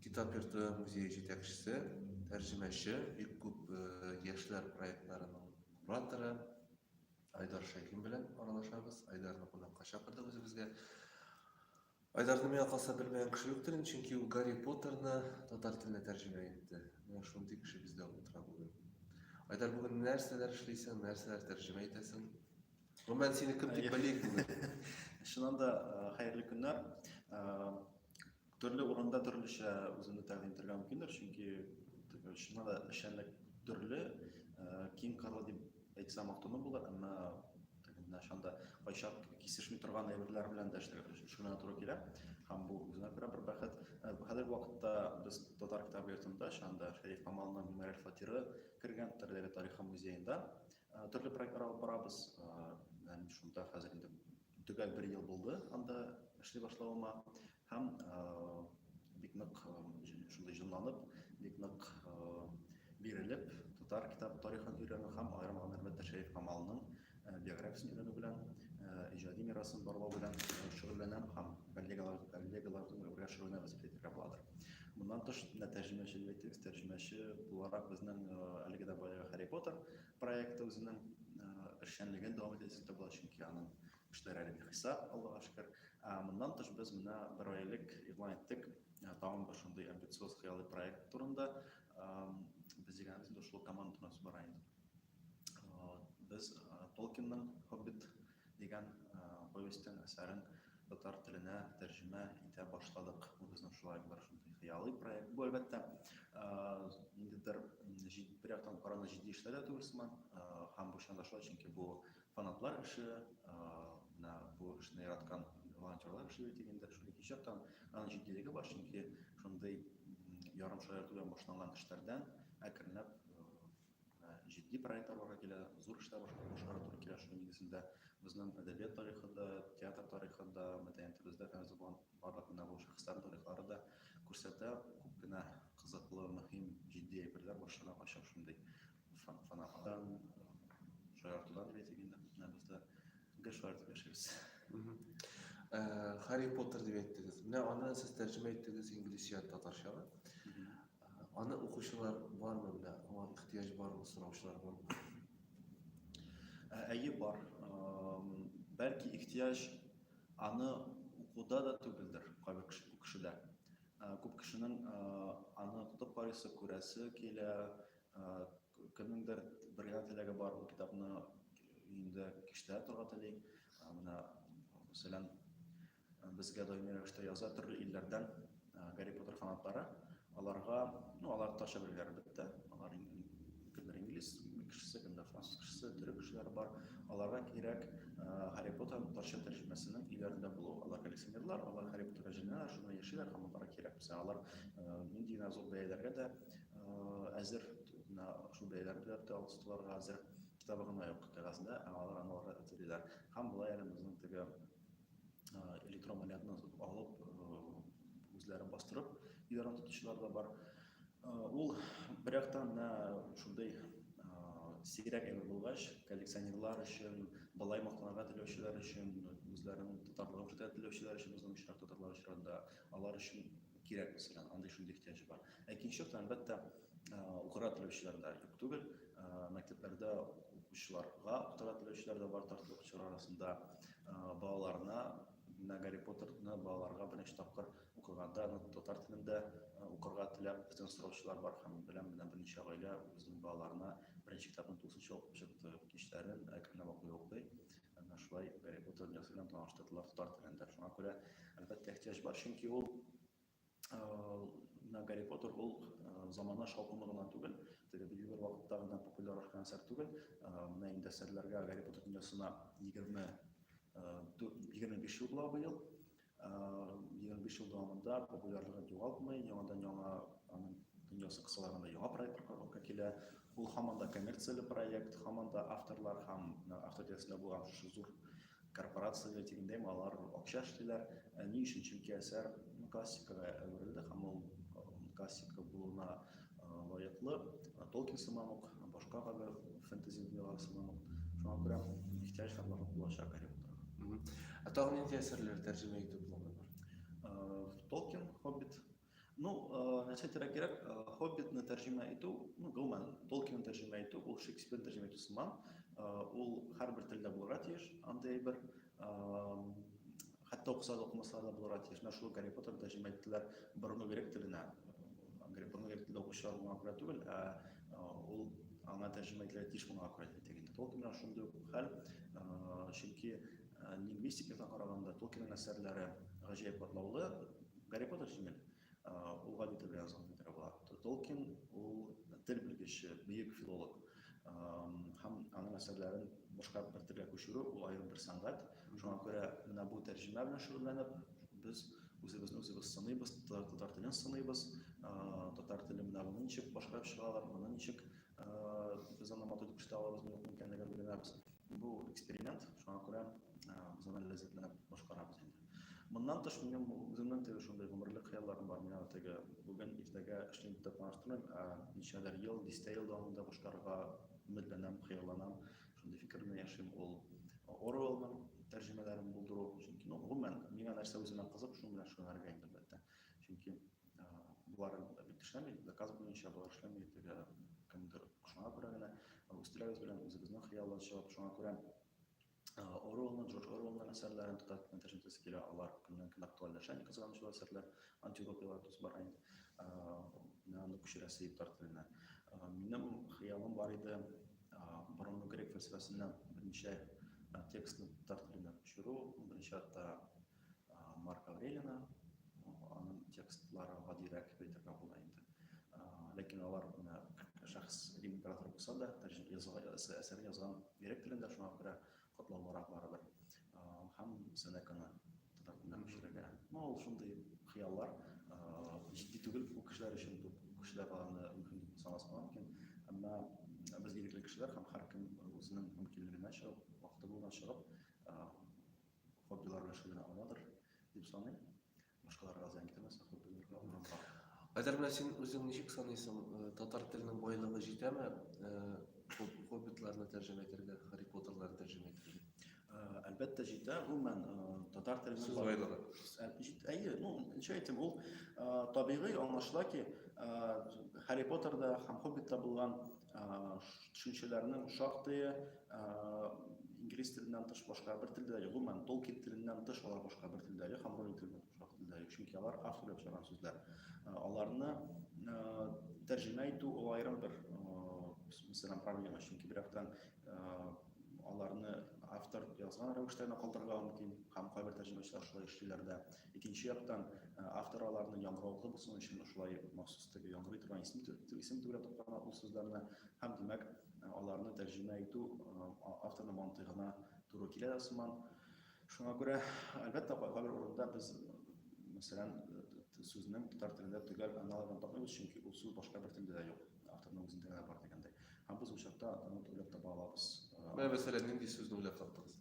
Китап йорты музее җитәкчесе, тәрҗемәче, бик күп яшьләр проектларының кураторы Айдар Шәйхин белән аралашабыз. Айдарны кунакка чакырдык үзебезгә. Айдарны миңа калса белмәгән кеше юктыр, чөнки ул Гарри Поттерны татар теленә тәрҗемә итте. Менә шундый кеше бездә утыра бүген. Айдар бүген нәрсәләр эшлисең, нәрсәләр тәрҗемә итәсең? Гомумән сине кем дип белик бүген? Чыннан да, хәерле көннәр. Төрле урында төрлечә үземне тәкъдим итәргә мөмкиндер, чөнки чыннан да эшчәнлек төрле, киң кырлы дип әйтсәм мактану булыр, әмма начанда кайчак кисешми торган әйберләр белән дә шөгыльләнә туры килә һәм бу үзенә күрә бер бәхет э, хәзерге вакытта без татар китап йортында шанда шәриф камалның мәгариф фатиры кергән төрләре тарихы музеенда э, төрле проектлар алып барабыз э, шунда хәзер инде Төгәл бер ел булды анда эшли башлавыма һәм бик нык шундый җонланып, бик нык бирелеп, татар китап тарихын өйрәнү һәм аерым алганда әлбәттә Шәриф Камалның биографиясен өйрәнү белән, иҗади мирасын барлау белән шөгыльләнәм һәм коллегалар, коллегалар белән шөгыльләнәбез дип әйтергә буладыр. Моннан тыш, менә тәрҗемәчелек, тәрҗемәче буларак безнең әлеге дә баягы Харри Поттер Проекты үзенең эшчәнлеген дәвам итә дисәк тә була, чөнки аның эшләре әле бихисап, Аллага шөкер. Моннан тыш без менә бер ай элек игълан иттек тагын бер шундый амбициоз хыялый проект турында. Без дигәнебез инде шул команда турында сүз бара инде. Без Tolkien-ның Хоббит Дигән повестен, әсәрен татар теленә тәрҗемә итә башладык. Бу безнең шулай бер шундый хыялый проект. Бу, әлбәттә, ниндидер бер яктан караганда җитди эшләр дә түгел сыман. Һәм бу чынында шулай, чөнки бу фанатлар эше, менә бу эшне яраткан волонтерлар эше бит инде. Шул икенче яктан аның җитдилеге бар, чөнки шундый ярымшаярту белән башланган эшләрдән әкренләп җитди проектлар бара килә, зур эшләр башкарырга туры килә. Шуның нигезендә безнең әдәбият тарихы да, театр тарихы да, мәдәниятебездә фәнүзә булган барлык менә бу шәхесләр тарихлары да күрсәтә. Күп кенә кызыклы, мөһим, җитди әйберләр башына кача шундый фанаттан, шаяртудан дип әйтик инде, менә без дә гел шулай итеп яшибез. Харри Поттер дип әйттегез. Менә аны сез тәрҗемә иттегез инглизчә татарчага. Аны укучылар бармы белә, аңа ихтыяҗ бармы сораучылар бармы? Ә, әйе бар. Бәлки ихтыяҗ аны укуда да түгелдер кайбер кешедә. Күп кешенең аны укытып карыйсы, күрәсе килә, кемнеңдер бер генә теләге бар, ул китапны инде киштә торга тели. Менә мәсәлән, Безгә даими рәвештә яза төрле илләрдән Гарри Поттер фанатлары. Аларга, ну, алар татарча беләләр әлбәттә. Алар кемдер инглиз кешесе, кемдер француз кешесе, төрек кешеләре бар. Аларга кирәк Гарри Поттер татарча тәрҗемәсенең өйләрендә булу. Алар коллекционерлар, алар Гарри Поттерга җенәләр, шуны яшиләр һәм аларга кирәк. Без алар нинди генә зур бәяләргә дә әзер, шул бәяләргә дә тотылырга әзер. Китабы гына юк кәгазьдә, алар аналарга әзерлиләр. Һәм болай әле безнең теге электромалятны алып үзләрен бастырып идарә тотучылар да бар ул бер яктан шундый сирәк әйбер булгач коллекционерлар өчен былай мактанырга теләүчеләр өчен үзләренең татарлыгын күрсәтә теләүчеләр өчен безнең очрак татарлар очрагында алар өчен кирәк мәсәлән андый шундый ихтыяҗ бар ә икенче яктан әлбәттә укырга теләүчеләр дә юк түгел мәктәпләрдә укучыларга укытырга теләүчеләр дә бар татар укучылар арасында балаларына менә гарри поттерны балаларга беренче тапкыр укыганда аны татар телендә укырга теләп бездән сораучылар бар һәм беләм менә берничә гаилә үзенең балаларына беренче китапны тулысынча укып чыкты кичләрен әкренләп укый укый менә шулай гарри поттер дөньясы белән таныштырдылар татар телендә шуңа күрә әлбәттә ихтыяҗ бар чөнки ул менә Гарри Поттер ул замана шаукымы гына түгел, теге бер югар вакытта гына популяр арткан әсәр түгел. Менә инде әсәрләргә Гарри Поттер дөньясына 20 25 ел була быел. 25 ел дәвамында популярлыгын югалтмый, яңадан яңа аның дөньясы кысаларында яңа проектлар кабулка килә. Ул һаман да коммерцияле проект, һаман да авторлар һәм авторитетында булган шушы зур Корпорация белән тигендәйме, алар акча эшлиләр. Ни өчен? Чөнки әсәр классикага әверелде һәм ул классика булуына лаеклы. Толкин сыман ук, башка кадәр фэнтези дөньялары сыман ук. Шуңа күрә ихтыяҗ һәм барлык булачак Гарри Поттерга. Ә тагын нинди әсәрләр тәрҗемә итү планы бар? Толкин, Хоббит, Ну, нәрсә кирәк кирәк, Хоббитны тәрҗемә итү, ну, гомумән, Толкинны тәрҗемә итү, ул Шекспирны тәрҗемә итү сыман, ул һәрбер телдә булырга тиеш, андый әйбер, хәтта укыса да укымаса да булырга тиеш, менә шул Гарри Поттерны тәрҗемә иттеләр борынгы грек теленә, Гарри Поттерны грек телдә укучылар моңа күрә түгел, ә ул аңа тәрҗемә ителергә тиеш булган акыры итә инде, Толкин белән шундый ук хәл, чөнки, Лингвистикага караганда Толкинның әсәрләре гаҗәеп катлаулы. Гарри Поттер җиңел. Ул гади тел белән язылган бит була. Толкин ул тел белгече, бөек филолог. Һәм аның әсәрләрен башка бер телгә күчерү ул аерым бер сәнгать. Шуңа күрә менә бу тәрҗемә белән шөгыльләнеп, без үзебезне үзебез сыныйбыз, татар телен сыныйбыз. Татар теле менә моны ничек башкарып чыгалар, моны ничек Без аны матур итеп эшләтә алабызмы, юкмы икәнлеген өйрәнәбез. Бу эксперимент, шуңа күрә без аны ләззәтләнеп башкарабыз инде. Моннан тыш, минем үземнең теге шундый гомерлек хыялларым бар. Мин аны теге бүген, иртәгә эшлим дип тә планлаштырмыйм, ә ничәдер ел, дистә ел дәвамында башкарырга өметләнәм, хыялланам. Шундый фикер белән яшим. Ул Оруэллның тәрҗемәләрен булдыру. Чөнки, ну, гомумән, миңа нәрсә үземә кызык, шуның белән шөгыльләнергә иде, әлбәттә. Чөнки боларын да бит эшләми, заказ буенча болар эшләми, теге кемдер шуңа күрә генә үстерәбез белән үзебезнең хыяллар чыгып, шуңа күрә Оруэллны, Джордж Оруэллның әсәрләрен тотар кенә тәшәнтәсе килә, алар көннән көн актуальләшә, ни кызганыч ул әсәрләр, антиутопиялар дус бара инде, менә аны күчерәсе иптар теленә. Минем хыялым бар иде, борынгы грек фәлсәфәсеннән берничә текстны татар теленә күчерү, берничә хатта Марк Аврелина, аның текстлары гадирәк дип әйтергә була инде. Ләкин алар менә шәхс император булса да, әсәр язган грек телендә шуңа күрә котлаулырак барыбер. Һәм Сенеканы татар телендә күчерергә. Ну, ул шундый хыяллар, җитди түгел, бу кешеләр өчен бу кешеләр аны мөһим дип санаска мөмкин. Әмма без ирекле кешеләр һәм һәркем үзенең мөмкинлегенә чыгып, вакыты булган чыгып, Хоббилар белән шундый гына аладыр, дип саныйм. Башкаларга зыян китермәсә, хоббиларга урын бар. Айдар белән син үзең ничек саныйсың, э, татар теленең байлыгы җитәме э, хоббитларны тәрҗемә итәргә, Харри Поттерларны тәрҗемә итәргә? Э, әлбәттә җитә, гомумән татар теленең байлыгы. Әйе, ну, ничә әйтим, ул табигый аңлашыла ки, Харри Поттерда һәм Хоббитта булган төшенчәләрнең шактые Инглиз теленнән тыш башка бер телдә юк. Гомумән, Tolkien теленнән тыш алар башка бер телдә юк һәм Rowling теленнән тыш башка телдә юк. Чөнки алар автор ясаган сүзләр. Аларны тәрҗемә итү ул аерым бер мәсьәлә проблема. Чөнки бер яктан аларны автор язган рәвештә генә калдырырга мөмкин һәм кайбер тәрҗемәчеләр шулай эшлиләр дә. Икенче яктан, автор аларны яңгыраулы булсын өчен шулай махсус итеп яңгырый торган исем исем төбенә тоткан ул сүзләрне һәм димәк аларны тәрҗемә итү авторның мантыйгына туры килә дә сыман. Шуңа күрә, әлбәттә, кайбер урында без, мәсәлән, сүзнең татар телендә төгәл аналогын тапмыйбыз, чөнки ул сүз башка бер телдә дә юк, авторның үзендә генә бар дигәндәй. Һәм без ул чакта аны уйлап таба алабыз. Менә мәсәлән, нинди сүзне уйлап таптыгыз?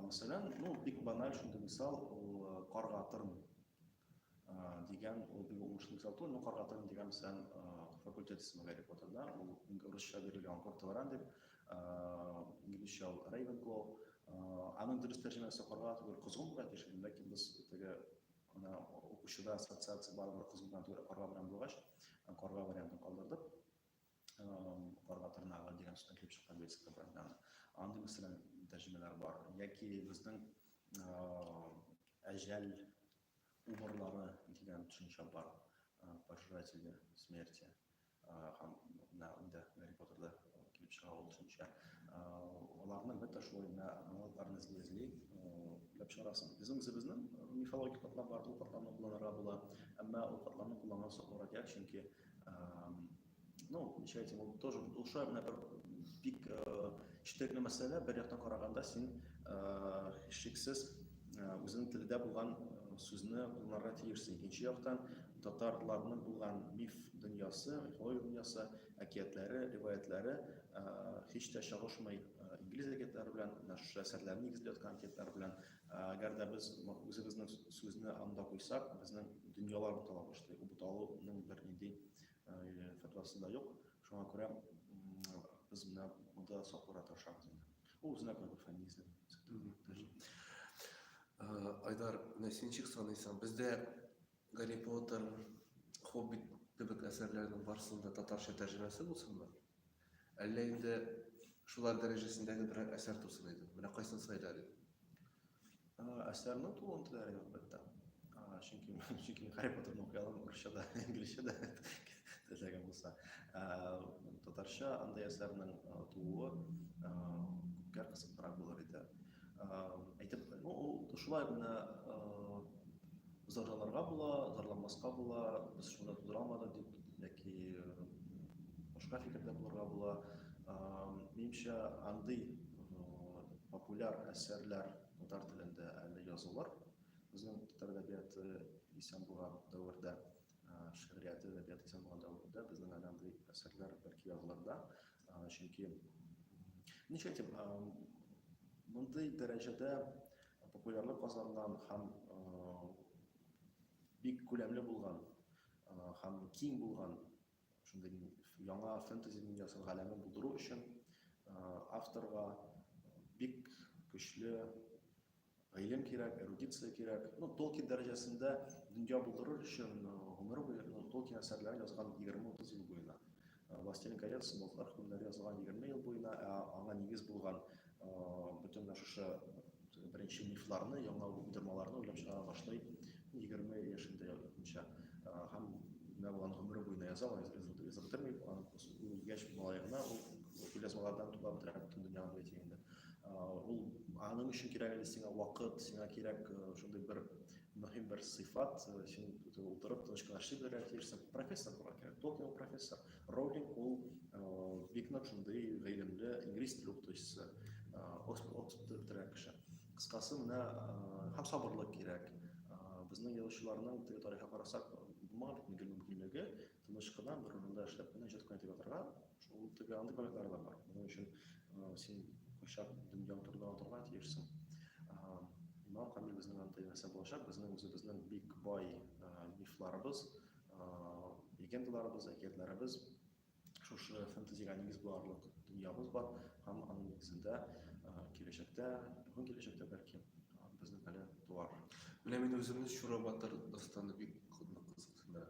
Мәсәлән, ну, бик баналь шундый мисал, ул карга тырн. дигән ул бик уңышлы кисәтү, ну каргатырым дигән исән факультет исеме Гарри Поттерда, ул урысча бирелгән Кортелран дип, инглизчә ул Рейвенклоу. Аның дөрес тәрҗемәсе карга түгел, козгын була тиеш, ләкин без теге ана укучыда ассоциация барыбер козгыннан түгел, карга белән булгач, карга вариантын калдырдык. карга тырнагы дигән сүздән килеп чыккан лексика белән андый мәсәлән тәрҗемәләр бар яки безнең әҗәл убырлары дигән төшенчә бар пожиратели смерти һәм менә инде гарри поттерда килеп чыга ул төшенчә аларны бетә шулай менә аналогларны эзли эзли эзләп чыгарасың безнең үзебезнең мифологик катламнар бар ул катламны кулланырга була әмма ул катламны кулланган соң радиация чөнки Ну, ничәйтә, ул тоже душа менә бер бик четерекле мәсьәлә, бер яктан караганда син шексез үзенең телдә булган сүзне кулланырга тиешсең. Икенче яктан татарларның булган миф дөньясы, мифология дөньясы, әкиятләре, риваятләре һич тә чагышмый инглиз әкиятләре белән, менә шушы әсәрләрне нигезләп яткан әкиятләр белән. Әгәр дә без үзебезнең сүзне анда куйсак, безнең дөньялар бутала башлый. Ул буталуның бер нинди фәтвасы да юк. Шуңа күрә без менә монда сакларга тырышабыз инде. Ул үзенә күрә бер фәминизм. Айдар, менә син чик саныйсың. Бездә Гарри Поттер, Хоббит кебек әсәрләрнең барысының да татарча тәрҗемәсе булсынмы? Әллә инде шулар дәрәҗәсендәге берәр әсәр тусын иде? Менә кайсын сайлар идең? Әсәрнең тулын теләре юк бит та. Чөнки чөнки Гарри Поттерны укый алам русча да, инглизчә дә теләгән булса. Татарча андый әсәрнең тууы күпкә кызыклырак булыр иде. Әйтеп, ну, шулай гына Зарланырга була, зарланмаска була, без шунда тудыра алмадык дип, яки башка фикердә булырга була. Минемчә, андый популяр әсәрләр татар телендә әле язылыр. Безнең татар әдәбияты исән булган дәвердә, шигърияте әдәбияты исән булган дәвердә безнең әле андый әсәрләр бәлки язылыр да. Чөнки ничек әйтим, мондый дәрәҗәдә популярлык казанган һәм бик күләмле булган һәм киң булган шундый яңа фэнтези дөньясын галәмен булдыру өчен авторга бик көчле Гыйлем кирәк, эрудиция кирәк. Ну, Толкин дәрәҗәсендә дөнья булдырыр өчен гомер буе, ну, Толкин әсәрләре язган 20-30 ел буена. Властелин колец, Болытлар хөкемнәре язган 20 ел буена, ә аңа нигез булган бөтен шушы беренче мифларны, яңа уйдырмаларны уйлап чыгара башлый 20 яшендә язучы. Һәм менә булган гомере буена яза, аны язып бетермәй, аны үлгәч малаена ул күлязмалардан туплап бетерә бөтен дөньяны бит инде. Ул аның өчен кирәк әле сиңа вакыт, сиңа кирәк шундый бер мөһим бер сыйфат, син утырып тыныч кына эшли белергә тиешсең. Профессор була кирәк, Токио профессор. Роулинг ул бик нык шундый гыйлемле инглиз теле укытучысы, Оксфорд бетерә кеше. Кыскасы менә һәм сабырлык кирәк. Безнең язучыларның теге тарихка карасак, булмаган бит мөмкинлеге тыныч кына бер урында эшләп кенә җырткын итеп ятарга шул теге андый проектлар да бар моның өчен э, син кайчак дөньяң турында онытырга тиешсең имам камил безнең анда нәрсә булачак безнең үзебезнең бик бай э, мифларыбыз э, легендаларыбыз әкиятләребез шушы фэнтезига нигез буларлык дөньябыз бар һәм аның нигезендә киләчәктә якын киләчәктә бәлки безнең әле туар менә мин үземне чура батыр дастаны бик кызыксындыра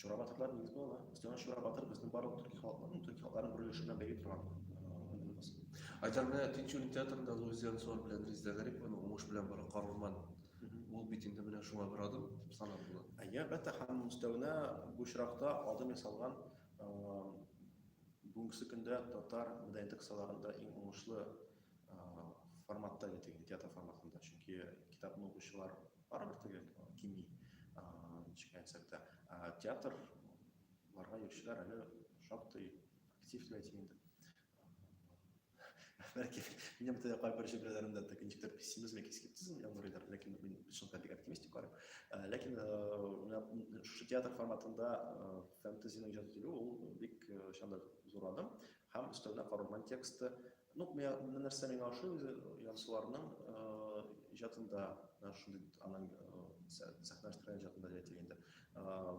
Чура батырлар нигез булалар. Өстәмә Чура батыр безнең барлык төрки халыкларның, төрки халыкларның берләшү белән бәйле торган аермасы. Айдар менә Тинчурин театрында Луизиан Сор белән Резеда Гарипованың уңыш белән бара Карурман. Ул бит инде менә шуңа бер адым дип санап була. Әйе, әлбәттә, һәм өстәвенә бу очракта адым ясалган бүгенге көндә татар мәдәнияте кысаларында иң уңышлы форматта, театр форматында. Чөнки китапны укучылар Барлык теге кими ничек әйтсәктә театр барга йөрүчеләр әле шактый актив дип әйтим инде бәлки минем тә кайбер җөмләләремдә тә ничектер пессимизм яки скептизм яңгырыйдыр ләкин мин чынлыкта бик оптимист дип карыйм э, ләкин э, шушы театр форматында э, фэнтезиның иҗат ителүе ул бик чанда зур адым һәм өстәвенә королман тексты Ну, миңа бер нәрсә миңа ошый үзе Янсуарның иҗатында, менә шундый аның сәхнәләштерелгән иҗатында дип әйтик инде.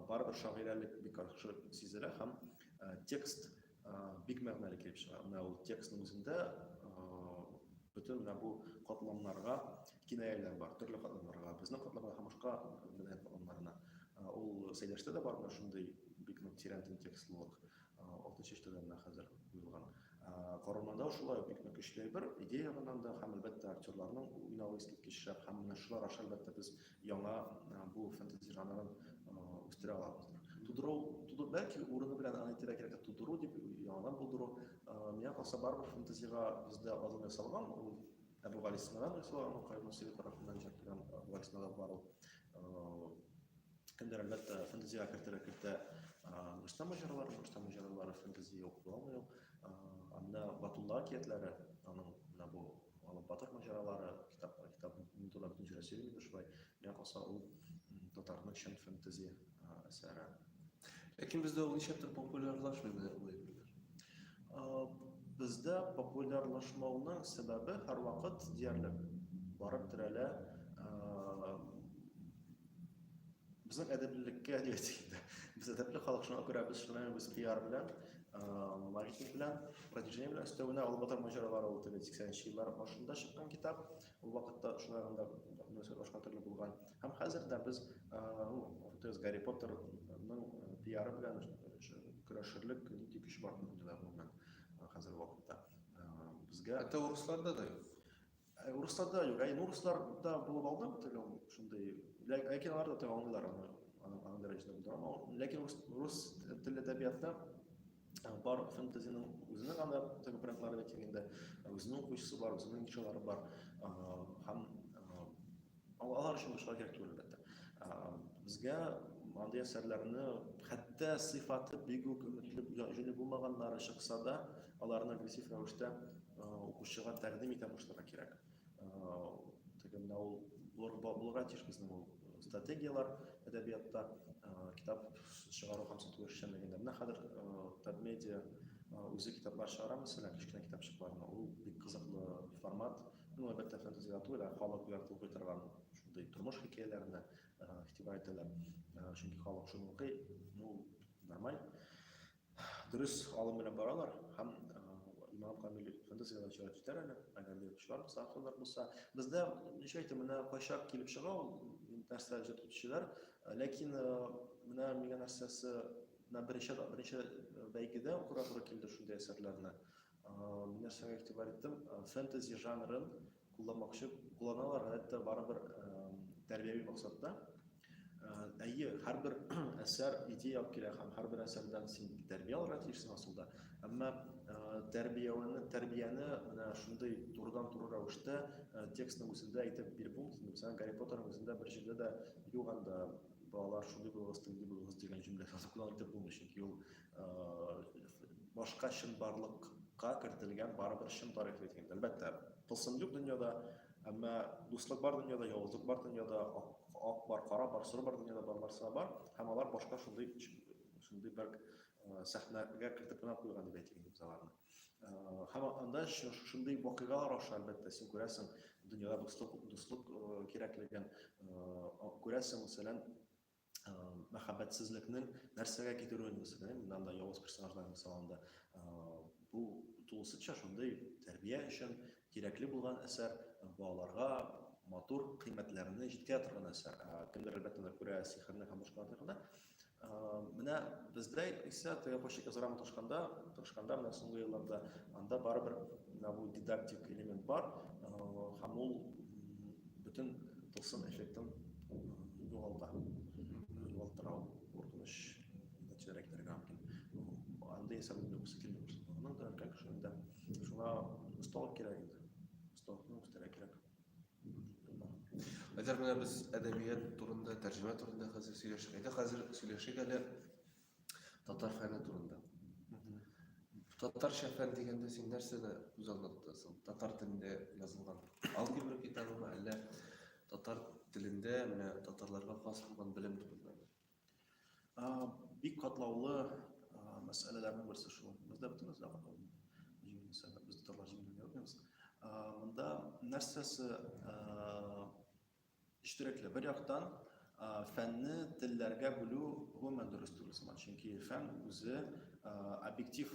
Барыбер шагыйрәлек бик яхшы сизелә һәм текст бик мәгънәле килеп чыга. Менә ул текстның үзендә бөтен менә бу катламнарга кинаяләр бар, төрле катламнарга, безнең катламга һәм башка мәдәният катламнарына. Ул Сәйдәштә дә бар менә шундый бик нык тирән текслылык. Алты чиштәдән менә хәзер куелган. Корылмада шулай бик нык көчле әйбер, идея ягыннан да һәм әлбәттә актерларның уйнавы искиткеч шәп һәм менә шулар аша әлбәттә без яңа бу фэнтези жанрын үстерә алабыздыр. Тудыру, тудыру бәлки урыны белән аны әйтергә кирәк, тудыру дип яңадан булдыру. Миңа калса барыбер фэнтезига бездә азым ясалган, ул Әбүгалисинадан ясалган, Каюм Насыйри тарафыннан җыртылган Әбүгалисинада бар ул Кемдер, әлбәттә, фэнтезига кертә, кертә Рустам Аҗарлар, Рустам Аҗарлар фэнтези юк була алмый юк. Анда Батулла әкиятләре, аның менә бу алып батыр маҗаралары, китап, китап турында бөтен җирә сөйләми дошбай. Менә калса ул татарның чын фэнтези әсәре. Ләкин бездә ул ничектер популярлашмый менә бу әйберләр. Бездә популярлашмауның сәбәбе һәрвакыт диярлек барып терәлә Безнең әдәплелеккә дигәндә, без әдәпле халык, шуңа күрә без шулай без пиар белән, маркетинг белән, продвижение белән өстәвенә алып батыр маҗаралар ул теге 80-нче еллар башында чыккан китап. Ул вакытта шулай гында башка төрле булган. Һәм хәзер дә без Ортез Гарри Поттерның пиары белән көрәшерлек нинди көч бар дөньяда гомумән хәзер вакытта. Безгә Әтә урысларда да юк. Ә урысларда юк. Ә урысларда булып алдым теге шундый. Ләкин алар да теге аңлыйлар аны. Аның аның дәрәҗәсендә булды. Ама ләкин рус рус телле әдәбиятта э, бар фэнтезиның үзенең аны теге брендлары да килгәндә э, үзенең укучысы бар, үзенең нишалары бар. Э, һәм Алар өчен башка кирәк түгел, әлбәттә. Безгә мондый әсәрләрне хәтта сыйфаты бик үк өметле җүне булмаганнары чыкса да, аларны агрессив рәвештә укучыга тәкъдим итә башларга кирәк. Теге менә ул булырга тиеш безнең ул стратегияләр әдәбиятта, китап чыгару һәм сату эшчәнлегендә. Менә хәзер Татмедиа үзе китаплар чыгара, мәсәлән, кечкенә китапчыкларны. Ул бик кызыклы формат, Ну, әлбәттә, фэнтези-литература, халык яратып укый торган шундый тормыш хикәяләренә игътибар итәләр. Чөнки халык шуны укый, ну, нормаль. Дөрес алым белән баралар һәм имам Камил фэнтезидан чыгып китәр әле, әгәр дә укучылар булса, авторлар булса. Бездә, ничә әйтә, менә кайчак килеп чыга ул, нәрсә җыр төчеләр, ләкин менә миңа нәрсәсе, менә беренче, беренче бәйгедә укырга туры килде шундый әсәрләрне. Мин нәрсәгә игътибар иттем? Фэнтези жанрын кулланмакчы, кулланалар, гадәттә, барыбер тәрбияви максатта. Әйе, һәрбер әсәр идея алып килә һәм һәрбер әсәрдән син тәрбия алырга тиешсең асылда. Әмма тәрбияне, тәрбияне менә шундый турыдан-туры рәвештә текстның үзендә әйтеп биреп булмый. Мәсәлән, Гарри Поттерның үзендә бер җирдә дә юк анда балалар шундый булыгыз, тиндый булыгыз дигән җөмлә сазы кулланып әйтеп булмый, чөнки ул башка чынбарлыкка кертелгән барыбер чын тарих бит инде. Әлбәттә, тылсым юк дөньяда, әмма дуслык бар дөньяда, явызлык бар дөньяда, ак бар, кара бар, соры бар дөньяда бар нәрсә бар, һәм алар башка шундый шундый бер сәхнәгә кертеп кенә куйган дип әйтик инде аларны. Һәм анда шундый вакыйгалар аша, әлбәттә, син күрәсең, дөньяда дуслык дуслык кирәклеген, күрәсең, мәсәлән, мәхәббәтсезлекнең нәрсәгә китерүен күрсәтә моннан да явыз персонаждан мисал алында бу тулысынча шундый тәрбия өчен кирәкле булган әсәр балаларга матур кыйммәтләрне җиткерә торган әсәр кемдер әлбәттә күрә сихерне һәм башка тагында менә бездә исә тыяпочек язарга маташканда тырышканда менә соңгы елларда анда барыбер менә бу дидактик элемент бар һәм ул Бөтен тылсым эффектын югалта. Югалтыра ул. Куркыныч нәтиҗәләргә китерергә мөмкин. Анда исә моны юксы килми күрсәтә. Моның да өлкән кеше инде шуңа осталык кирәк инде. Осталыкны үстерә кирәк. Әгәр менә без әдәбият турында, тәрҗемә турында хәзер сөйләшик. Әйдә хәзер сөйләшик әле Татар фәне турында. Татарча фән дигәндә син нәрсәне күз алдына тотасың? Татар телендә язылган алгебра китабымы, әллә татар телендә менә татарларга хас булган белем турында? Бик катлаулы мәсьәләләрнең берсе шул. Бездә бөтен нәрсә катлаулы. Җиңел мәсьәлә, без татарлар җиңел ярамыйбыз. Монда нәрсәсе Четерекле. Бер яктан, фәнне телләргә бүлү гомумән дөрес түгел сыман, чөнки фән үзе объектив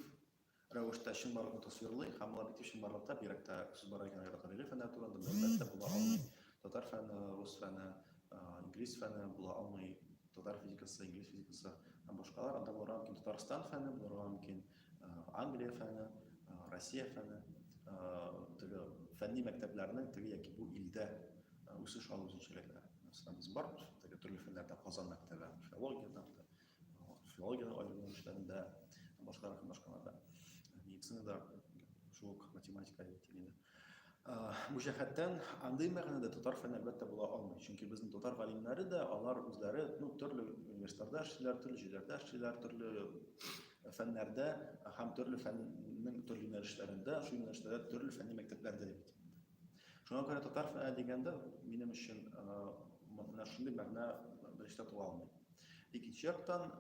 рәвештә чынбарлыкны тасвирлый һәм ул объектив чынбарлыкта бигрәк тә сүз бара икән аерым гамәли фәннәр турында мәгълүмат була алмый. Татар фәне, рус фәне, инглиз фәне була алмый. Татар физикасы, инглиз физикасы һәм башкалар анда булырга мөмкин. Татарстан фәне булырга мөмкин. Англия фәне, Россия фәне, теге фәнни мәктәпләрнең теге яки бу илдә үсеш алу үзенчәлекләре. Мәсәлән, без бар теге төрле фәннәрдә Казан мәктәбе, филологиядә, филологиядә аерым эшләрендә, башкалар һәм башкаларда. Медицинада шул ук математика яки инде Бу җәһәттән андый мәгънәдә татар фәне әлбәттә була алмый. Чөнки безнең татар галимнәре дә, алар үзләре, ну, төрле университетларда эшлиләр, төрле җирләрдә эшлиләр, төрле фәннәрдә һәм төрле фәннең төрле юнәлешләрендә, шул юнәлештә төрле фәнни мәктәпләрдә бит. Шуңа күрә татар фәне дигәндә минем өчен менә шундый мәгънә беренче тапла алмый. Икенче яктан,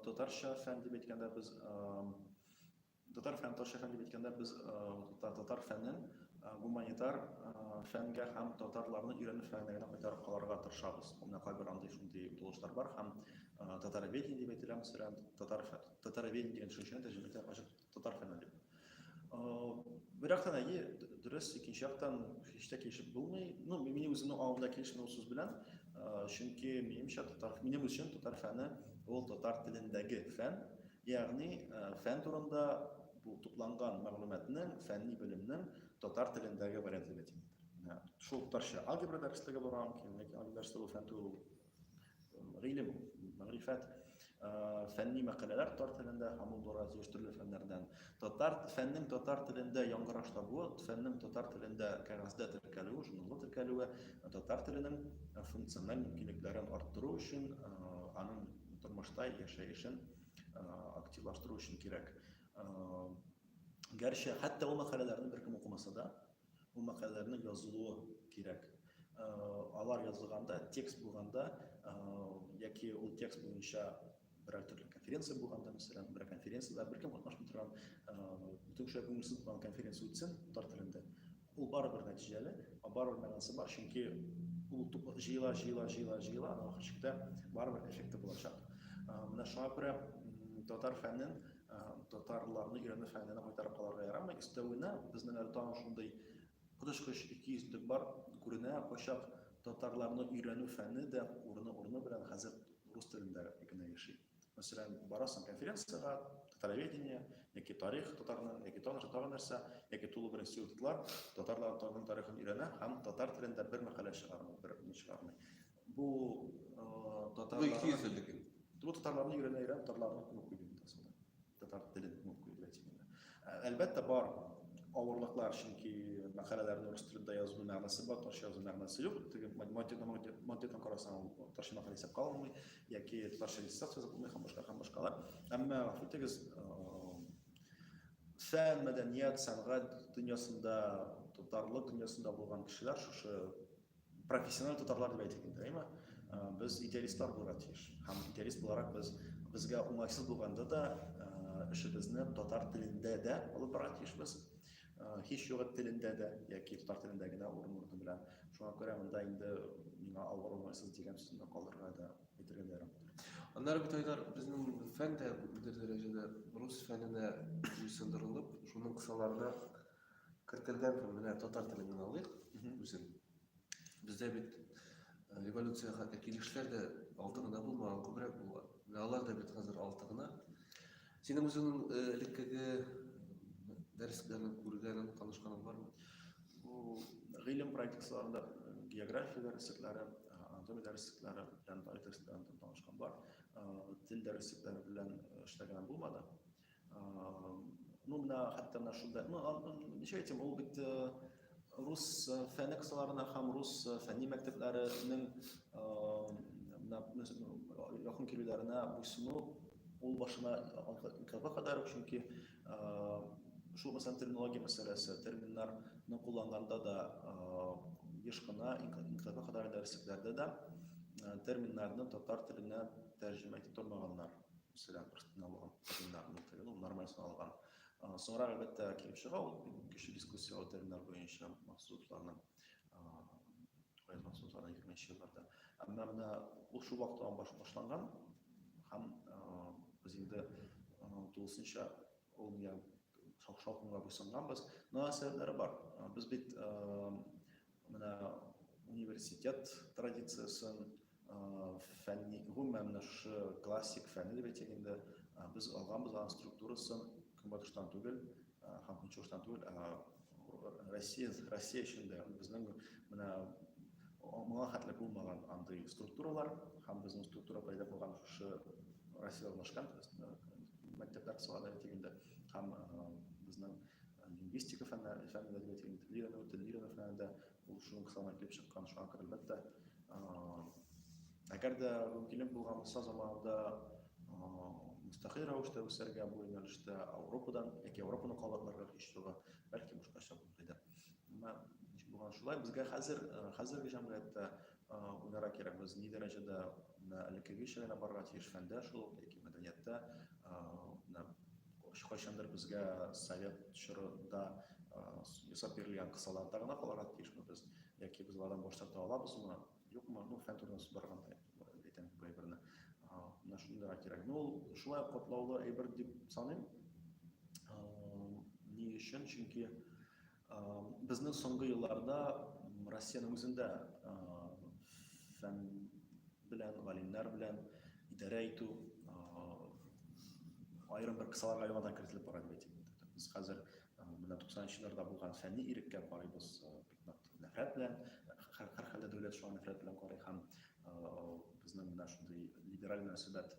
татарча фән дип әйткәндә без Татар һәм татарча фән дип әйткәндә, без татар фәнен гуманитар фәнгә һәм татарларны өйрәнү фәненә генә кайтарып калырга тырышабыз. Менә кайбер андый шундый булышлар бар һәм татароведение дип әйтелә, мәсәлән, татар татароведение дигән төшенчәне тәрҗемә итә ачык татар фәне дип. Бер яктан әйе, дөрес, икенче яктан һич тә килешеп булмый. Ну, минем үземнең аңымда килешми ул сүз белән, чөнки минемчә татар минем өчен татар фәне ул татар телендәге фән, Ягъни, фән турында бу тупланган мәгълүматның, фәнни белемнең татар телендәге вариантлыгы димдер. Менә шул татарча алгебра дәреслеге бар аның кин, ләкин алгебра дәресе бу фән түгел, ул гыйлем, мәгърифәт. Фәнни мәкаләләр татар телендә һәм ул бара тиеш төрле фәннәрдән. Татар фәннең татар телендә яңгыраш табуы, фәннең татар телендә кәгазьдә теркәлүе, журналда теркәлүе татар теленең функциональ мөмкинлекләрен арттыру өчен, аның Тормышта яшәешен активлаштыру өчен кирәк. Гәрчә, хәтта ул мәкаләләрне беркем укымаса да, ул мәкаләләрне язылуы кирәк. Алар язылганда, текст булганда, яки ул текст буенча берәр төрле конференция булганда, мәсәлән, бер конференциядә беркем катнашмый торган, бүтәнчә күңелсез булган конференция үтсен татар телендә, Ул барыбер нәтиҗәле, барыбер мәгънәсе бар, чөнки ул тук җыела, җыела, җыела, җыела, аннан ахыр чиктә барыбер эффекты булачак. Менә шуңа күрә татар фәнен, татарларны өйрәнү фәненә кайтарып калырга ярамый. Өстәвенә, безнең әле тагын шундый коточкыч икейөзлек бар, күренә, кайчак татарларны өйрәнү фәне дә урыны-урыны белән хәзер рус телендә генә яши. мәсәлән барасың конференциягә татароведение яки тарих татарның яки тагын тагын нәрсә яки тулы бер институтлар татарлар татарның тарихын өйрәнә һәм татар телендә бер мәкалә чыгармый бер ни чыгармый бу татарлар бу татарларны өйрәнә өйрәнә татарларны күп укый бит Татар телен онытып куйдылар дигәндә. Әлбәттә бар авырлыклар, чөнки мәкаләләрне урыс телендә язу мәгънәсе бар, татарча язу мәгънәсе юк. Теге монтетон карасаң, ул татарча мәкалә исәпкә алынмый, яки татарча диссертация язып булмый һәм башка һәм башкалар. Әмма гафу итегез, фән, мәдәният, сәнгать дөньясында, татарлык дөньясында булган кешеләр шушы профессиональ татарлар дип әйтик инде әйме без идеалистлар булырга тиеш һәм идеалист буларак без безгә уңайсыз булганда да эшебезне татар телендә дә алып барырга тиешбез һич югы телендә дә яки татар телендә генә урын урыны белән шуңа күрә монда инде миңа авыр уңайсыз дигән сүзне калдырырга да әйтергә дә ярамыйдыр аннары бит айдар безнең фән дә бер дәрәҗәдә рус фәненә буйсындырылып шуның кысаларына Кертелгән һәм менә татар телен генә алыйк үзен. Бездә бит э, революциягә килешләр дә алты гына булмаган, күбрәк булган. Менә алар да бит хәзер алты гына. Синең үзеңнең э, элеккеге дәресләрен күргәнең, танышканың бармы? Бу гыйлем практикаларында э, география дәреслекләре, анатомия дәреслекләре белән тарих дәресләре белән танышкан бар. Тел дәреслекләре белән эшләгән булмады. Ну, менә хәтта менә шунда. Ну, ничә әйтим, ул бит рус фәне кысаларына һәм рус фәнни мәктәпләренең менә якын килүләренә буйсыну ул башына каба кадәр, чөнки шул мәсәлән терминология мәсьәләсе, терминнарны кулланганында да еш кына инкаба кадәр дәреслектәрдә дә терминнарны татар теленә тәрҗемә итеп тормаганнар. Мәсәлән, бер налган терминарны тыгыл, нормаль саналган. Соңра әлбәттә килеп чыга ул кеше дискуссияле терминар буенча максатларны кайгы максатларны егерменче елларда. Әмма менә ул шул вакыттан баш башланган һәм без инде тулысынча ул я шакшалкынга буйсынганбыз. Мөнәсәбәтләре бар. Без бит менә университет традициясен фәнни, гомумән менә шушы классик фәнне дип әйтсәк инде, без алганбыз аның структурасын Көнбатыштан түгел һәм Көнчыгыштан түгел, ә Россия, Россия өчен дә безнең менә моңа хәтле булмаган андый структуралар һәм безнең структура пәйда булган шушы Россия урнашкан мәктәпләр салады дип әйтик инде һәм безнең лингвистика фәннәре, фәннәре дип әйтик инде, телне өйрәнү, телне өйрәнү фәнендә Ул шуның кысаларына килеп чыккан шуңа күрә әлбәттә. Әгәр дә мөмкинлек булган булса заманында мөстәкыйль рәвештә үсәргә бу юнәлештә Европадан яки Европаны кабатларга оештыруга бәлки башкача булыр иде. Әмма булган шулай. Безгә хәзер хәзерге җәмгыятьтә уйларга кирәк, без ни дәрәҗәдә менә элеккеге кешеләргә барырга тиеш фәндә шул ук яки мәдәнияттә менә кайчандыр безгә совет чорында ясап бирелгән кысаларда гына калырга тиешме без яки без алардан баш тарта алабызмы юкмы ну фән турында сүз барганда әйтәм бу әйберне менә шуны уйларга кирәк ну ул шулай катлаулы әйбер дип саныйм ни өчен чөнки Безне соңгы елларда Россиянең үзендә фән белән, галимнәр белән идарә итү аерым бер кысаларга яңадан кертелеп бара дип әйтеп үтте. Без хәзер менә 90 елларда булган фәнни иреккә карыйбыз бик нык нәфрәт белән, һәрхәлдә дәүләт шуңа нәфрәт белән карый һәм безнең менә шундый либераль мөнәсәбәт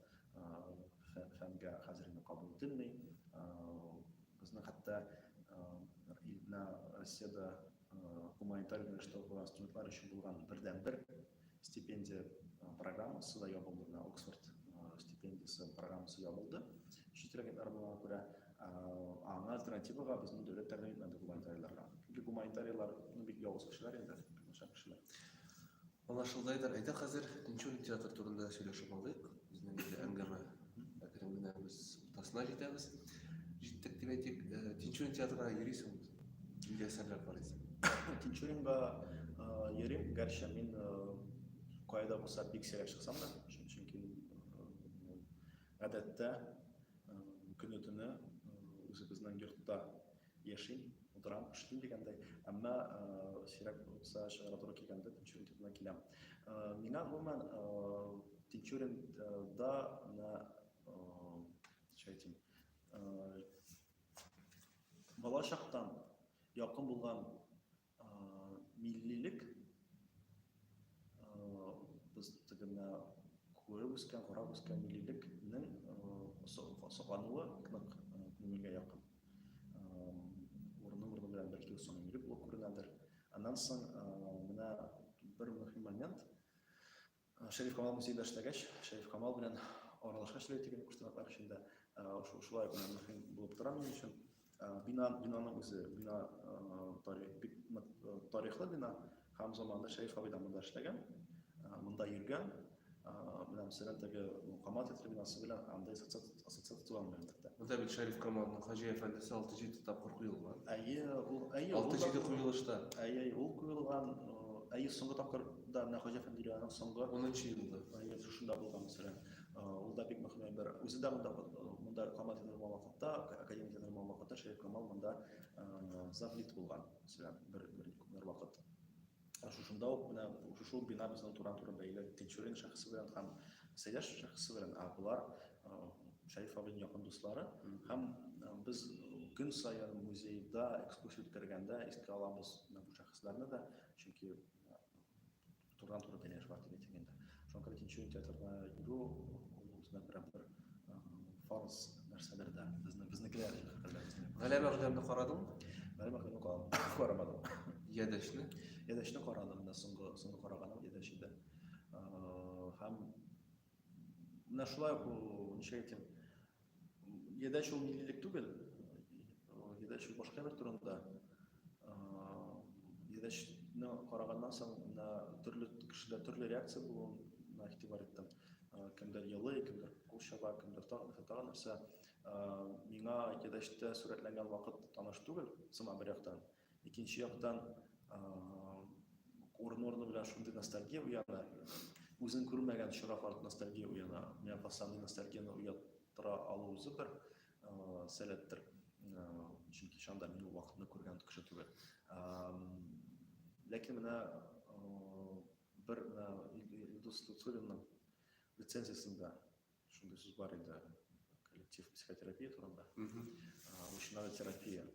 фәнгә хәзер инде кабул ителми. Безнең хәтта илдә, Россиядә гуманитар юнәлештә укыган студентлар өчен булган бердәнбер стипендия программасы да ябылды. Менә Оксфорд стипендиясе программасы ябылды. Чит регионнар булган күрә аңа альтернативага безнең дәүләт тәкъдим итмәде гуманитарийларга. Чөнки гуманитарийлар бик явыз кешеләр инде, начар кешеләр. Анлашылгайдыр, әйдә хәзер Тинчурин театры турында сөйләшеп алыйк. Безнең инде әңгәмә әкрен генә без уртасына җитәбез. Җиттек дип әйтик. Тинчурин театрына йөрисең, нинди әсәрләр карыйсың? Тинчуринга йөрим, гәрчә мин кая да булса бик сирәк чыксам да, чөнки гадәттә көне-төне үзебезнең йортта Яшим, утырам, эшлим дигәндәй, әмма сирәк булса чыгарга туры килгәндә Тинчурин төбенә киләм. Миңа гомумән Тинчуринда менә шайтим. Балачактан якын булган Миллилек без теге менә күреп үскән, карап үскән миллилекнең соклануы бик нык күңелгә якын. Урыны урыны белән бәлки соң милли булып күренәдер. Аннан соң менә бер мөһим момент, Шәриф Камал музейда эшләгәч, Шәриф Камал белән аралашкач әле теге куштанаклар өчен дә шулай гына мөһим булып тора минем өчен. Бина, бинаның үзе, бина тарих, бик тарихлы бина һәм заманында Шәриф абый да монда эшләгән, монда йөргән. Менә мәсәлән, теге Камал театры бинасы белән анда социаль ассоциацион мәгълүматлар. Анда бит Шәриф Камалның Хаҗи әфәндесе 6-7 тапкыр куелган. Әйе, ул әйе. 6-7 куелышта. Әйе, ул куелган. Әйе, соңгы тапкыр да менә Хаҗи әфәнде Ильяның соңгы 10 елында. Әйе, шушында булган мәсәлән. Ул да бик мөһим бер. Үзе дә монда монда Камал язылган вакытта, академия язылган вакытта Шәриф Камал монда заплит булган. Мәсәлән, бер бер вакыт. шушында ук менә шушы ук бина безнең тура-туры бәйле Тинчурин шәхесе белән һәм Сәйдәш шәхесе белән, ә болар Шәриф абыйның якын дуслары һәм без көн саен музейда экскурсия үткәргәндә искә алабыз менә бу шәхесләрне дә, чөнки турыдан-туры бәйләнеш бар дип әйтелгәндә. Шуңа күрә икенче театрга йөрү үзенә күрә бер фарз нәрсәдер дә. Безне безнекеләр Галәмә хәзрәтне карадың? Галәмә хәзрәтне карамадым. Ядәшне? Ядәшне карадым да соңгы соңгы караганым ядәш иде. Һәм менә шулай ук ничә әйтим, Гедач ул миллилек түгел. Гедач ул башка бер турында. Гедачны караганнан соң мына төрле кешеләр төрле реакция булуына игътибар иттем. Кемдер елый, кемдер кул чаба, кемдер тагын нәрсә, тагын нәрсә. Миңа гедачта сурәтләнгән вакыт таныш түгел, сыман бер яктан. Икенче яктан, урын-урыны белән шундый ностальгия уяна, үзең күрмәгән очрак арт ностальгия уяна. Миңа калса, андый ностальгияне уяттыра алу үзе бер сәләттер. Чөнки шанда мин ул вакытны күргән кеше түгел. Ләкин менә бер Илдус Тутуллинның рецензиясендә Шундый сүз бар иде, коллектив психотерапия турында. Учинада терапия,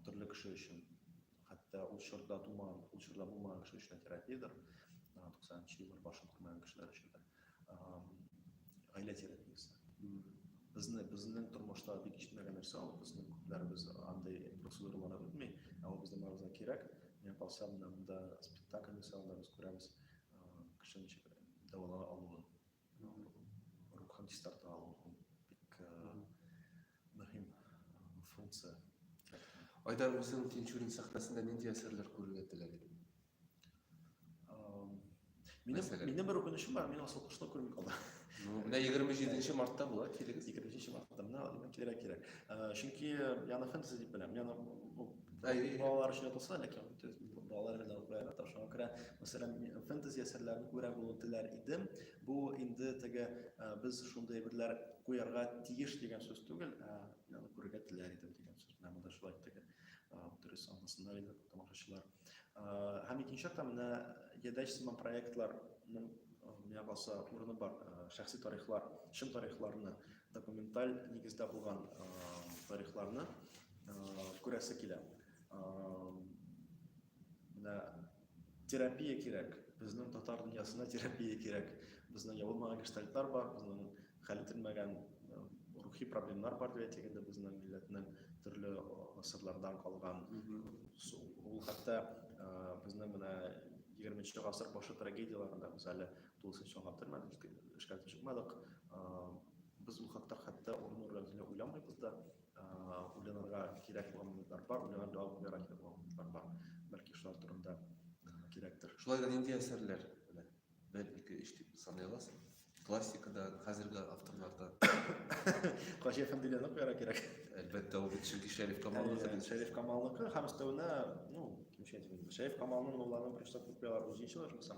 төрле кеше өчен, хәтта ул чорда тумаган, ул чорда булмаган кеше өчен терапиядер, 90-нчы еллар башын күрмәгән кешеләр өчен дә. Гаилә терапиясе. Безне, безнең тормышта бик ишетмәгән нәрсә ул, безнең күпләребез андый процедураларга үтми, ә ул безнең барыбызга кирәк. Миңа калса, монда спектакль ясалганда без күрәбез кешенең дәвалана алуын. Рухани старта алу бик мөһим функция. Айдар үзең Тинчурин сәхнәсендә нинди әсәрләр күрергә теләр идең? Минем, минем бер үкенечем бар, мин асыл кошны күрми калдым. Менә 27 мартта була, килегез. 27 мартта, менә кирәк кирәк. Чөнки яны фэнтези дип беләм. Яны Әйе, балалар өчен укылса, ләкин төз балалар белән укырга тырышам. Күрә, мәсәлән, фэнтези әсәрләрне күрә булу теләр идем. Бу инде теге без шундый әйберләр куярга тиеш дигән сүз түгел, ә аны күрергә теләр идем дигән сүз белән монда шулай теге дөрес аңласыннар иде тамашачылар. Һәм икенче яктан менә Ядәч сыман проектларның миңа калса урыны бар, шәхси тарихлар, чын тарихларны Документаль нигездә булган тарихларны күрәсе килә. Менә терапия кирәк. Безнең татар дөньясына терапия кирәк. Безнең ябылмаган гештальтлар бар, безнең хәл ителмәгән рухи проблемнар бар дип әйтик инде безнең милләтнең төрле гасырлардан калган. Ул хәтта безнең менә 20 нче гасыр башы трагедияләрендә без әле Тулысынча аңлап термәдек, эшкә чыкмадык. Без ул хакта хәтта урын рәвешендә уйламыйбыз да. Уйланырга кирәк булган моментлар бар, уйланып җавап бирә кирәк булган моментлар бар. Бәлки шулар турында кирәктер. Шулай да нинди әсәрләр белән? Бер, ике, өч дип саный аласың? Классикадан, хәзерге авторлардан. Хаҗи Әфәнделәрне куярга кирәк. Әлбәттә, ул бит чөнки Шәриф Камалныкы. Шәриф Камалныкы һәм өстәвенә, ну, кимчә әйтеп, Шәриф Камалның Мулланы беренче тапкыр куялар үзенчә булса,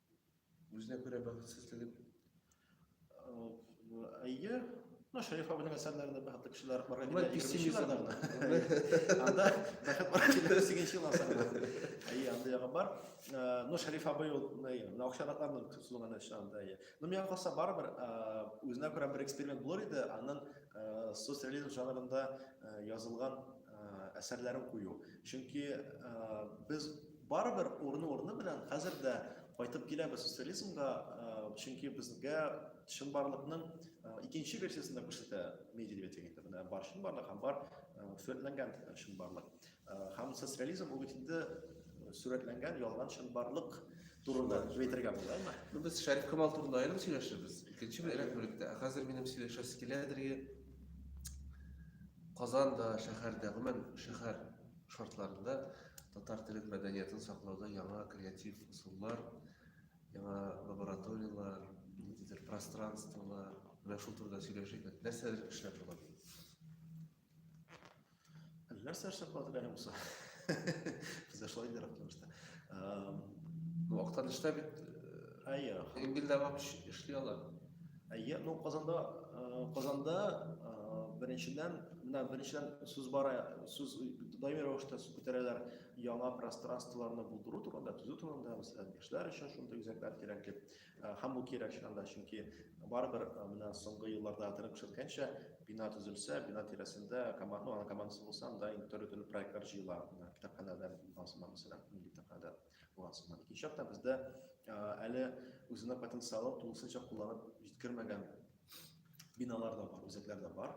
Үзенә күрә бәхетсезлеген. Әйе, ну, Шәриф абының әсәрләрендә бәхетле кешеләр бар. Бу пессимизм. Анда бәхет бар килер сигенче ел асарында. Әйе, анда ягы бар. Ну, Шәриф абый ул, ну, акчаратларның сузылган эше анда, әйе. Ну, миңа калса барыбер үзенә күрә бер эксперимент булыр иде, аннан соцреализм жанрында язылган әсәрләрен кую. Чөнки без Барыбер урыны-урыны белән хәзер дә кайтып киләбез социализмга, чөнки безгә чынбарлыкның икенче версиясен дә күрсәтә Медведев дигәндә. Менә бар чынбарлык һәм бар сурәтләнгән чынбарлык. Һәм социализм ул бит инде сурәтләнгән ялган чынбарлык турында әйтергә була, әйме? Ну, без Шәриф Камал турында аерым сөйләшәбез. Икенче бер рәк бүлектә. Ә хәзер минем сөйләшәсе килә дәрге Казанда, шәһәрдә, гомумән шәһәр шартларында татар телен, мәдәниятын саклауда яңа креатив ысуллар, яңа лабораторияләр, ниндидер пространстволар, менә шул турыда сөйләшик. Нәрсәләр эшләп була? Нәрсә эшләп була дигән булса? Без шулай инде рәхмәтле. Ну, актаныштә бит Әйе. Ингилдә эшли алар. Әйе, ну Казанда, Казанда беренчедән, менә беренчедән сүз бара, сүз даими рәвештә сүз күтәрәләр яңа пространстволарны булдыру турында, төзү турында, мәсәлән, яшьләр өчен шундый үзәкләр кирәк дип. Һәм бу кирәк чынында, чөнки барыбер менә соңгы елларда торып күрсәткәнчә, бина төзелсә, бина тирәсендә команда, ана командасы булса, анда төрле-төрле проектлар җыела, китапханәдән, мәсәлән, милли китапханәдән. Болар сыман. Икенче яктан бездә әле үзенә потенциалы тулысынча кулланып җиткермәгән биналар да бар, үзәкләр дә бар.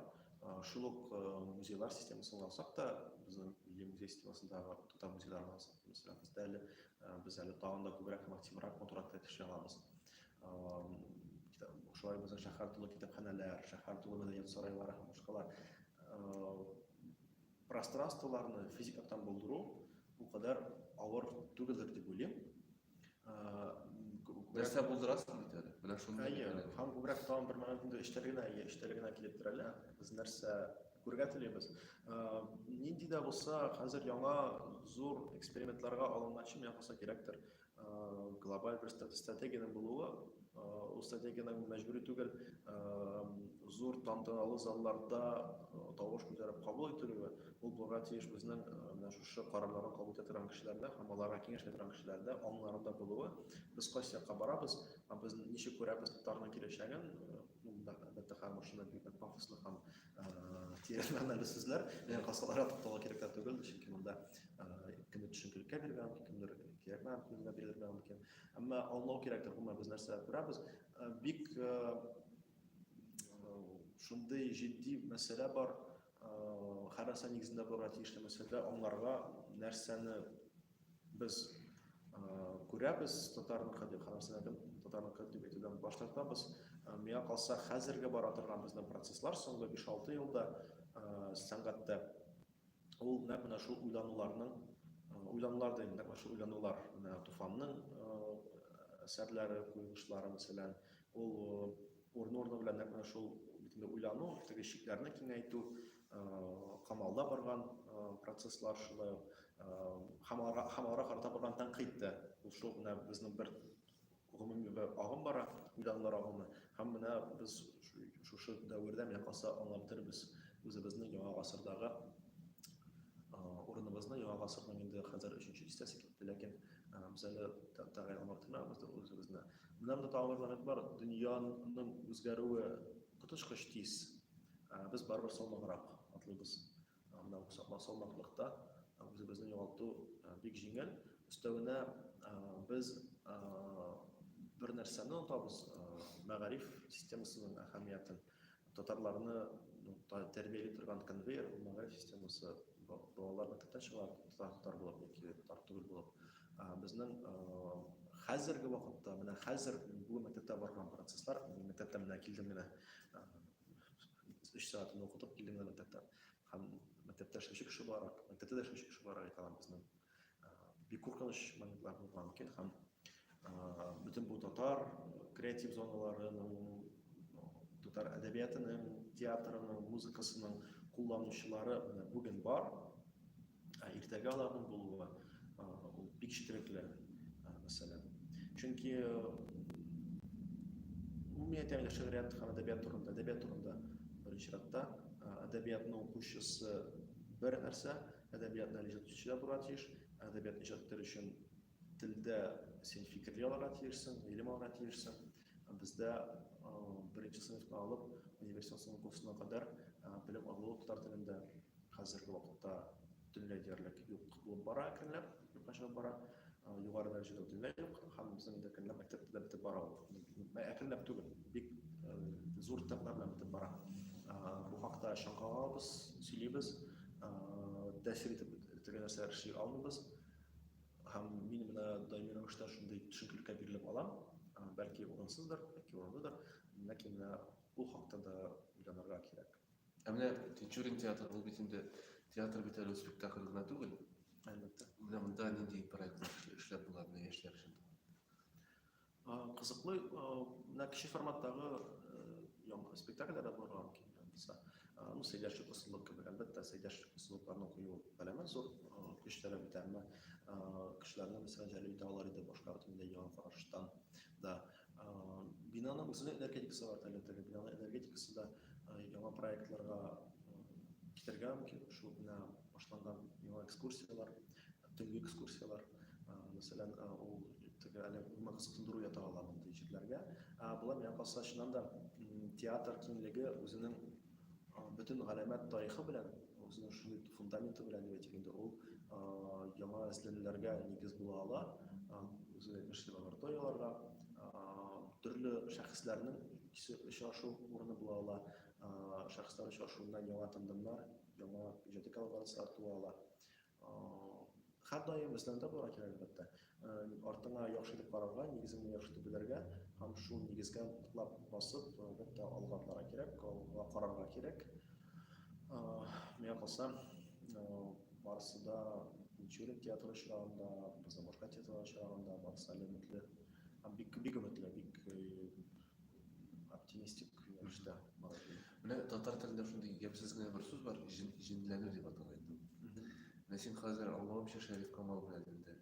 Шул ук музейлар системасын алсак та, безнең милли музей системасындагы татар музейларын алсак, мәсәлән, бездә әле без әле тагын да күбрәк математик матуракта төшә алабыз. Шулай безнең шәһәр тулы китапханәләр, шәһәр тулы мәдәният сарайлары һәм башкалар Пространстволарны физик яктан булдыру бу кадәр авыр түгелдер дип уйлыйм. Нәрсә булдырасың бит әле? Менә шуны. Әйе, һәм күбрәк тагын бер момент инде эчтәле генә, әйе, эчтәле генә килеп терәлә. Без нәрсә күрергә телибез. Нинди дә булса, хәзер яңа зур экспериментларга алынган чын яңасы кирәктер. глобаль бер стратегиянең булуы, ул стратегиянең мәҗбүри түгел зур тантаналы залларда тавыш күтәреп кабул ителүе, ул булырга тиеш безнең менә шушы карарларны кабул итә торган кешеләрдә һәм аларга киңәш итә торган кешеләрдә, аңнарында булуы. Без кайсы якка барабыз һәм без ничек күрәбез татарның киләчәген, бу әлбәттә һәр машина бик пафослы һәм тиешле анализсүзләр белән каскаларга тукталу кирәк тә түгел чөнки монда кемдер төшенкелеккә бирергә мөмкин кемдер кирәкмәгән күзгә бирергә мөмкин әмма аңлау кирәктер гомумән без нәрсә күрәбез бик шундый җитди мәсьәлә бар һәр нәрсә нигезендә булырга тиешле мәсьәлә аңларга нәрсәне Без күрәбез татарның хәле, хәләм сәләтем татарның хәле дип әйтүдән баш тартабыз. Миңа калса, хәзерге бара торган безнең процесслар соңгы 5-6 елда сәнгатьтә ул нәкъ менә шул уйлануларның уйланулар да инде шул уйланулар менә Туфанның әсәрләре, куелышлары мәсәлән, Ул урын-урыны белән нәкъ менә шул битендә уйлану, теге чикләрне киңәйтү, камалда барган процесслар шулай ук һәм аларга һәм аларга карата барган тәнкыйть тә. Ул шул менә безнең бер гомуми бер агым бара, уйланулар агымы. Һәм менә без шушы дәвердә менә калса аңлап бетербез үзебезне яңа гасырдагы урыныбызны, яңа гасырның инде хәзер өченче дистәсе китте, ләкин без әле тәгаен аңлап бетермәбездер үзебезне. Менә монда тагын бер момент бар, дөньяның үзгәрүе коточкыч тиз. Без барыбер салмаграк атлыйбыз. Менә бу салмаклыкта үзебезне югалту бик җиңел. Өстәвенә без бер нәрсәне онытабыз, мәгариф системасының әһәмиятен. Татарларны тәрбияли торган конвейер ул мәгариф системасы. Балаларны төптән чыга татар булып яки татар түгел булып. Безнең хәзерге вакытта, менә хәзер бүген мәктәптә барган процесслар, мәктәптән менә килдем генә, өч сәгатен укытып килдем генә мәктәптән. Һәм мәктәптә эшләүче кеше буларак, мәктәптә дә эшләүче кеше буларак әйтә алам, безнең бик куркыныч моментлар булган икән һәм бөтен бу татар креатив зоналарының татар әдәбиятының театрының музыкасының кулланучылары менә бүген бар ә иртәгә аларның булуы ул бик четерекле мәсьәлә чөнки гомумият әле шигърият һәм әдәбият турында әдәбият турында беренче чиратта әдәбиятны укучысы бер нәрсә Әдәбиятны иҗат итүче дә булырга тиеш. Әдәбиятны иҗат итәр өчен телдә син фикерли алырга тиешсең, гыйлем алырга тиешсең. Бездә беренче сыйныфтан алып университетның курсына кадәр белем алу татар телендә хәзерге вакытта төнлә диярлек юк булып бара әкренләп. Юкаша бара, югары дәрәҗәдә үтелә юк, һәм безнең инде әкренләп мәктәптә дә бетеп бара ул. Әкренләп түгел, бик зур темплар белән бетеп бара. Бу хакта чаң кагалабыз, сөйлибез, тәэсир итеп бетергән нәрсәләр эшли алмыйбыз. Һәм мин менә даими рәвештә шундый төшенкелеккә бирелеп алам, бәлки урынсыздыр, бәлки урынлыдыр, ләкин ул хакта да уйланырга кирәк. Ә менә Тинчурин театры ул бит инде театр бит әле спектакль гына түгел. Әлбәттә. Менә монда нинди проектлар эшләп була менә яшьләр өчен? Кызыклы, менә кече форматтагы яңгыр спектакльләр дә булырга мөмкин. Булса, ну, сөйләшү ысулы кебек, әлбәттә, сөйләшү ысулларны кую галәмәт зур көч таләп итә, әмма кешеләрне, мәсәлән, җәлеп итә алар иде башка бөтенләй яңа караштан да. Бинаны үзенең энергетикасы бар әле теге бинаны энергетикасы да яңа проектларга китергә мөмкин шул менә башланган яңа экскурсиялар төнге экскурсиялар мәсәлән ул теге әле гомумән кызыксындыру ята ала мондый җирләргә болай миңа калса чыннан да театр киңлеге үзенең Бөтен галәмәт тарихы белән, үзенең шундый фундаменты белән дип әйтик инде, ул яңа эзләнүләргә нигез була ала. Үзегез әйтмешли лабораторияләргә, төрле шәхесләрнең икесе очрашу урыны була ала. Шәхесләр очрашуында яңа тандемнар, яңа иҗади коллаборацияләр туа ала. Хәр даим эзләндә булырга кирәк, әлбәттә. Артыңа яхшы итеп карарга, нигезеңне яхшы итеп белергә һәм шул нигезгә ныклап басып, әлбәттә, алга атларга кирәк, алга карарга кирәк. Миңа калса, барысы да Мичурин театры очрагында, безнең башка театрлар очрагында барысы әле өметле. Бик бик өметле, бик оптимистик рәвештә менә татар телендә шундый ямьсез генә бер сүз бар җенләнү дип атала инде менә син хәзер аңлавымча шәриф камал белән инде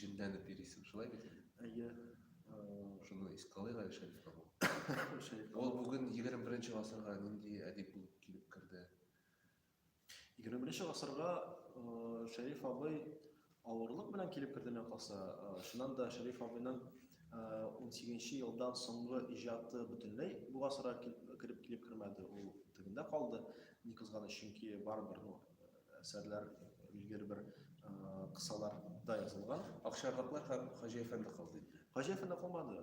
җенләнеп йөрисең шулай бит әйе шуны искә алыйк әле шәриф камал ул бүген егерме беренче гасырга нинди әдип булып килеп керде Егерме беренче гасырга Шәриф абый авырлык белән килеп керде мә калса. Шуннан да Шәриф абыйның 18 елдан соңгы иҗаты бөтенләй бу гасырга кереп килеп кермәде. Ул тегендә калды. Ни кызганыч, чөнки барыбер ну, әсәрләр билгеле бер кысаларда язылган. Акчарлаклар Хаҗи әфәнде калды инде. Хаҗи әфәнде калмады.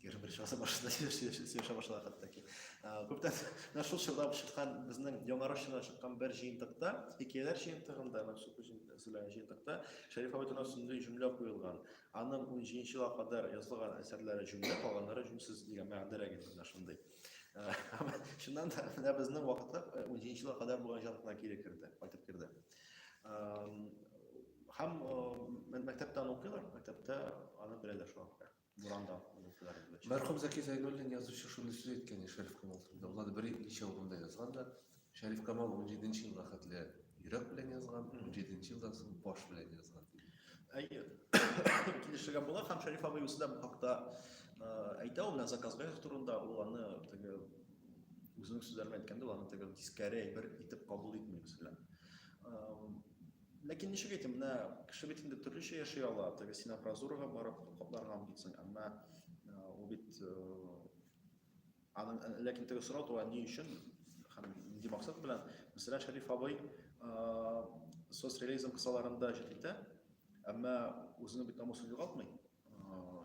Егерме беренче гасыр башында сөйләшә башлады хәтта ки. Күптән менә шул чорда чыккан безнең Яңа Русчада чыккан бер җыентыкта, хикәяләр җыентыгында, менә шул сөйләгән җыентыкта Шәриф Абайтуна сүзле җөмлә куелган. Аның 17 елга кадәр язылган әсәрләре җөмлә, калганнары җүнсез дигән мәгънәдәрәк инде менә шундый. Шуннан да менә безнең вакытта 17 елга кадәр булган җыентыкна кире керде, кайтып керде. Һәм мәктәптән укыйлар, мәктәптә аны беләләр шуңа күрә. Буранда укучылар белән. Мәрхүм Зәки Зәйнуллин язучы шундый сүз әйткән иде Шәриф Камал турында. Ул аны бер ничә урында язган да. Шәриф Камал 17 елга хәтле йөрәк белән язган, 17 елдан соң баш белән язган. Әйе. Килешергә була һәм Шәриф абый үзе дә бу хакта әйтә, ул менә Заказбеков турында ул аны теге үзенең сүзләрен әйткәндә, ул аны теге тискәре әйбер итеп кабул итми, мәсәлән. Ләкин ничек әйтим, менә кеше бит инде төрлечә яши ала. Теге син апразурага барып капларга мөмкинсең, әмма ул бит аның ләкин теге сорау туа ни өчен һәм нинди максат белән. Мәсәлән, Шәриф абый соцреализм кысаларында җыр итә, әмма үзенең бит намусын югалтмый.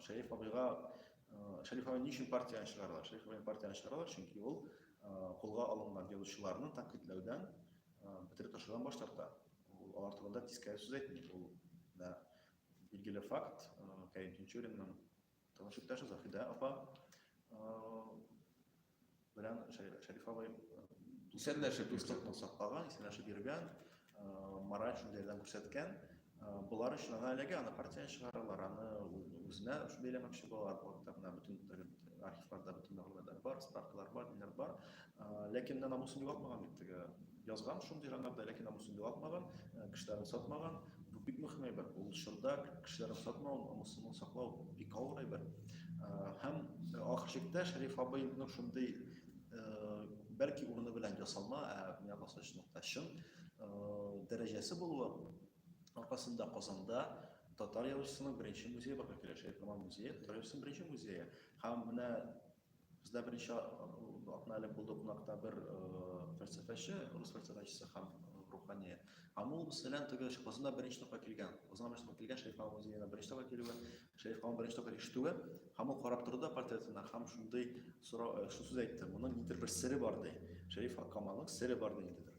Шәриф абыйга Шәриф абый ни өчен партияне чыгаралар? Шәриф абыйны партияне чыгаралар, чөнки ул кулга алынган язучыларны тәнкыйтьләүдән бетереп ташлаудан баш тарта. Ул алар турында тискәре сүз әйтми. Ул да билгеле факт, Кәрим Тинчуринның таныш иптәше Зафида апа белән Шәриф абый исәнләшеп дуслыкны саклаган, исәнләшеп йөргән, мораль шундыйдан күрсәткән, Болар өчен аны әлеге аны партия чыгаралар, аны үзенә бәйләмәкче булалар, блокта гына бөтен архивларда бөтен мәгълүматлар бар, справкалар бар, ниләр бар. Ләкин менә намусын югалтмаган бит теге. Язган шундый жанрда, ләкин намусын югалтмаган, кешеләрен сатмаган. Бу бик мөһим әйбер. Ул чорда кешеләрен сатмау, намусын саклау бик авыр әйбер. Һәм ахыр чиктә Шәриф абыйның шундый бәлки урыны белән ясалма, ә миңа калса чынлыкта чын дәрәҗәсе булуы аркасында Казанда татар язучысының беренче музее барлыкка килә, Шәйхаман музее, татар язучысының беренче музее. Һәм менә бездә беренче атна элек булды кунакта бер фәлсәфәче, рус фәлсәфәчесе һәм рухания. Һәм ул мәсәлән теге Казанда беренче тапкыр килгән, Казанда беренче тапкыр килгән Шәйхаман музеена беренче тапкыр килүе, Шәйхаман беренче тапкыр ишетүе, һәм ул карап торды портретына һәм шундый сорау, шундый сүз әйтте, моның нидер бер сере бар ди. Шәриф Акаманың сере бар ди инде.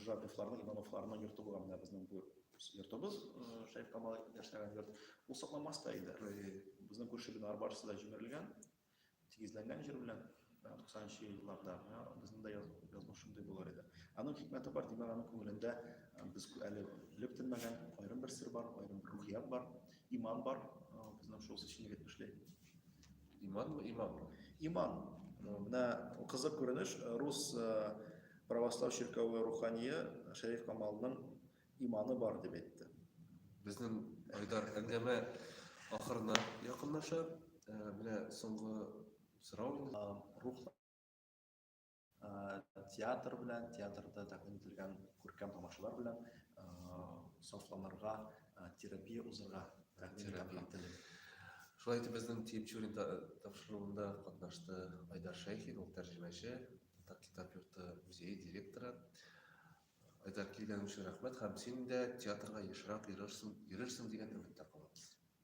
Журавлевларның, Ивановларның йорты булган менә безнең бу йортыбыз, Шәйх Камал яшәгән йорт. Ул сакланмас та иде. Безнең күрше биналар барысы да җимерелгән, тигезләнгән җир белән. 90-нчы елларда безнең дә язмыш шундый булыр иде. Аның хикмәте бар, димәк, аның күңелендә без әле белеп тенмәгән аерым бер сер бар, аерым бер рухият бар, иман бар, безнең шул сеченлек эшли. Иман мы, иман мы. Иман. Ну, менә кызык күренеш, э, рус э, православ чиркәве рухание Шәриф Камалның иманы бар дип әйтте. Безнең Айдар әңгәмә ахырына якынлаша. Э, менә соңгы сорау. Рухлы театр белән театрда тәкъдим ителгән күркәм тамашалар белән сафланырга терапия узырга тәкъдим ителде шулай итеп безнең тиепчурин тапшыруында катнашты айдар шәйхин ул тәрҗемәче татар китап йорты музее директоры айдар килгәнең өчен рәхмәт һәм син дә театрга ешрак йөрерсең йөрерсең дигән өметтә калабыз